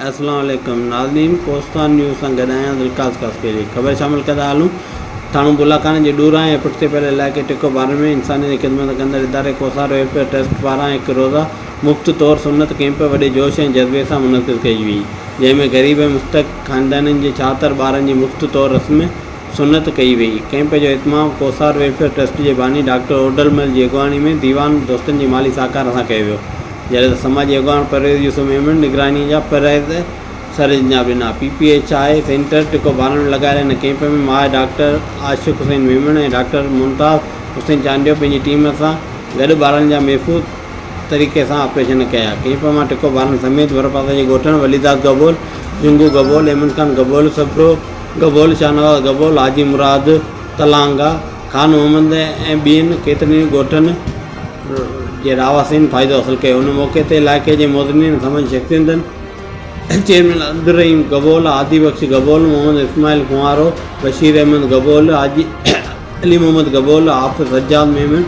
اسلام عليڪم ناظرين ڪوستان نيوز سان گڏ آهيان ذوالقاس قاسميلي خبر شامل ڪندا هلون ٿاڻو بولاکاڻي جي ڏورانهين ۽ پٺتي پيل علائقي ٽڪو بارن ۾ انسانيت جي خدمت ڪندڙ اداري ڪوسار ويلفيئر ٽرسٽ پاران هڪ روزه مفت طور سنت ڪيمپ وڏي جوش ۽ جذبي سان منعقد ڪئي وئي جنهن ۾ غريب ۽ مستحق خاندانن جي ڇهاتر ٻارن جي مفت طور رسم سنت ڪئي ويئي. ڪئمپ جو اھتمام ڪوھسار ويلفيئر ٽرسٽ جي باني ڊاڪٽر اوڏلمل جي اڳواڻي ۾ ديوان دوستن جي مالي ساھڪار سان ڪيو ويو. جڏھن ته سماجي اڳواڻ پرويز يوسف ميمڻ نگراني جا فرائض سرانجام ڏنا. P P H I centre ٽڪو باران ۾ لڳايل ھن ڪئمپ ۾ ماھر ڊاڪٽر عاشق حسين ميمڻ ۽ ڊاڪٽر ممتاز حسين چانڊيو پنھنجي ٽيم سان گڏ ٻارن جا محفوظ طريقي سان آپريشن ڪيا. ڪئمپ مان ٽڪو باران سميت ڀرپاسي جي ڳوٺن وليداد گبول، جنگو گبول، احمد خان گبول، سپرو، گبول شاهنواز گبول، حاجي مراد تلانگا، خان محمد ۽ ٻين ڪيترن ئي ڳوٺن جي رهواسين فائدو حاصل ڪيو. ان موقعي تي علائقي جي معززين سمن شخصيتن چيئرمين عبدالرحيم گبول، هادي بخش گبول، محمد اسماعيل کوهارو، بشير احمد گبول، حاجي علي محمد گبول، حافظ سجاد ميمڻ،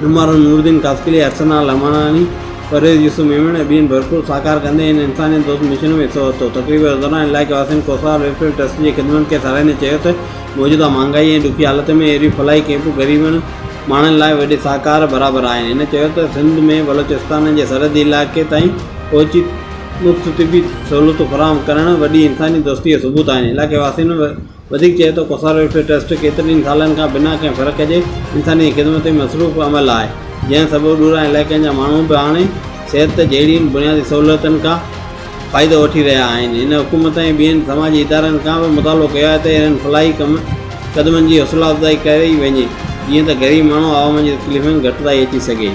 نمار نورالدين قاسقلي، ارسلان لماڻاڻي، پرويز يوسف ميمڻ ۽ ٻين ڀرپور سهڪار ڪندي هن انسانيت دوست مشن ۾ حصو ورتو. تقريب دوران علائقي واسين ڪوثار ويلفيئر ٽرسٽ جي خدمتن کي ساراهيندي چيو ته موجوده مهانگائي ۽ ڏکي حالتن ۾ اهڙيون فلاحي ڪئمپون غريبن ماڻهن لاء وڏي سهڪار برابر آهن. هن چيو ته سنڌ ۾ بلوچستان جي سرحدي علائقي تائين پهچي مفت طبي سهولتون فراهم ڪرڻ وڏي انساني دوستي جو ثبوت آهن. علائقي واسين وڌيڪ چئي ته ڪوثر ويلفيئر ٽرسٽ ڪيترن ئي سالن کان بنا ڪنهن فرق جي انساني خدمت ۾ مصروف عمل آهي، جنهن سبب ڏورانهين علائقن جا ماڻهو به هاڻي صحت جهڙين بنيادي سهولتن کان فائدو وٺي رهيا آهن. هن حڪومت ۽ ٻين سماجي ادارن کان به مطالبو ڪيو آهي ته اهڙن فلاحي قدمن جي حوصلا افزائي ڪري وڃي، جيئن ته غريب ماڻهو عوام جي تڪليفن ۾ گهٽتائي اچي سگهي.